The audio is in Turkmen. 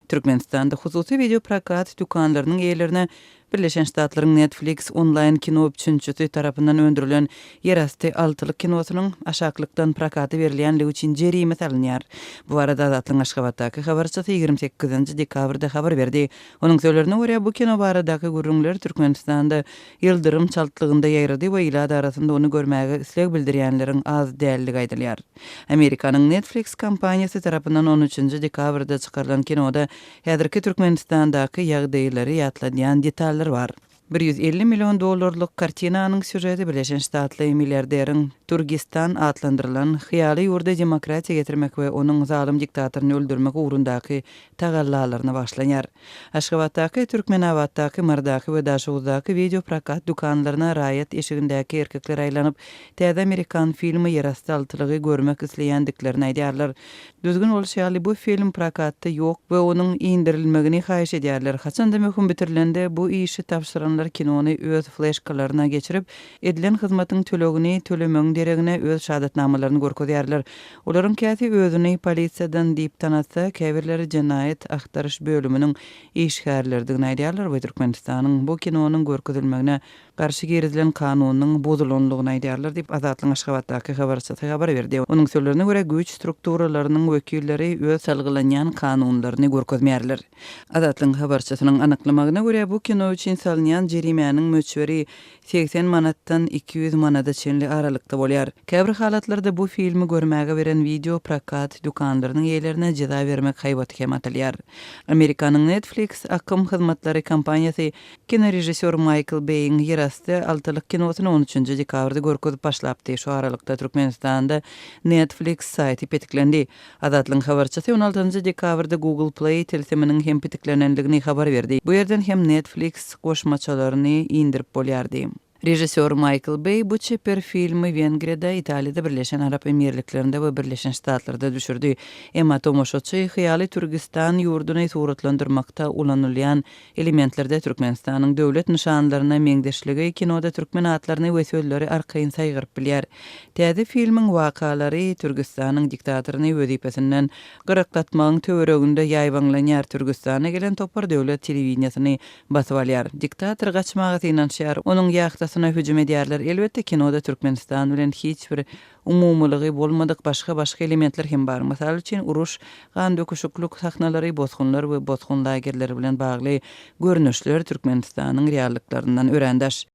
Türkmenistanda hususy wideoprokat dükanlarynyň eýelerine Birleşen Ştatlaryň Netflix onlaýn-kino üpjünçisi tarapyndan öndürilen Ýerasty altylyk kinosynyň aşaklykdan prokata berilýänligi üçin jerime salynýar. Bu barada Azatlygyň Aşgabatdaky habarçysy ýigrimi sekizinji dekabrda habar berdi. Onuň sözlerine görä, bu kino baradaky gürrüňler Türkmenistanda ýyldyrym çaltlygynda ýaýrady we ilat arasynda ony görmäge isleg bildirýänleriň az däldigi aýdylýar. Amerikanyň Netflix kompaniýasy tarapyndan on üçünji dekabrda çykarylan kinoda häzirki Türkmenistandaky ýagdaýlary ýatladýan detallar bar. Bir ýüz elli million dollarlyk kartinanyň sýužeti Birleşen Ştatly milliarderiň Turgistan atlandyrylan hyýaly ýurda demokratiýa getirmek we onuň zalym diktatoryny öldürmek ugrundaky tagallalaryna başlanýar. Aşgabatdaky, Türkmenabatdaky, Marydaky we Daşoguzdaky wideo prokat dükanlaryna raýat eşigindäki erkekler aýlanyp, täze amerikan filmi Ýerasty altylygy görmek isleýändiklerini aýdýarlar. Düzgün bolşy ýaly, bu film prokatda ýok we onuň indirilmegini haýyş edýärler. Haçanda möhüm bitirilende, bu işi tabşyranlar kinony öz fleşkalaryna geçirip, edilen hyzmatyň tölegini tölemegiň deregine öz şahadatnamalaryny görkezýärler. Olaryň käsi özüni polisiýadan diýip tanatsa, käbirleri jenaýat agtaryş bölüminiň işgärleridigini aýdýarlar we Türkmenistanyň bu kinonyň görkezilmegine garşy girizilen kanunynyň bozulandygyny aýdýarlar diýip, Azatlygyň Aşgabatdaky habarçysy habar berdi. Onuň sözlerine görä, güýç strukturalarynyň wekilleri öz salgylanýan kanunlaryny görkezmeýärler. Azatlygyň habarçysynyň anyklamagyna görä, bu kino üçin salynýan jerimäniň möçberi segsen manatdan iki ýüz manada çenli aralykda bolýar. Käbir halatlarda bu filmi görmäge beren wideo prokat dükanlarynyň eýelerine jeza bermek haýbaty hem atylýar. Amerikanyň Netflix akym hyzmatlary kompaniýasy kinorežissýor Maýkl Beýiň Ýerasty altylyk kinosyny on üçünji dekabrda görkezip başlapdy, şu aralykda Türkmenistanda Netflix saýty petiklendi. Azatlygyň habarçysy on altynjy dekabrda Google Play tilsiminiň hem pitiklenendigini habar berdi. Bu ýerden hem Netflix goşmaçalaryny indirip bolýardy. Režissýor Maýkl Beý bu çeper filmi Wengriýada, Italiýada, Birleşen Arap Emirliklerinde we Birleşen Ştatlarda düşürdi. Emma tomaşaçy hyýaly Türgistan ýurduny suratlandyrmakda ulanylýan Elementlerde Türkmenistanyň döwlet nyşanlaryna meňzeşligi kinoda türkmen atlaryny we sözleri arkaýyn saýgaryp bilýär. Täze filmiň wakalary Türgistanyň diktatoryny wezipesinden gyraklatmagyň töwereginde ýaýbaňlanýar, Türgistana gelen topar döwlet telewideniýesini basyp alýar, diktator gaçmaga synanyşýar, onuň ýahtasyna hüjüm edýärler, elbetde kinoda Türkmenistan bilen hiç bir Umumylygy bolmadyk başga-başga elementler hem bar. Mysal üçin, uruş, gandöküşiklik sahnalary, bosgunlar we bosgun lagerleri bilen bagly görnüşler Türkmenistanyň reallyklaryndan örän daş.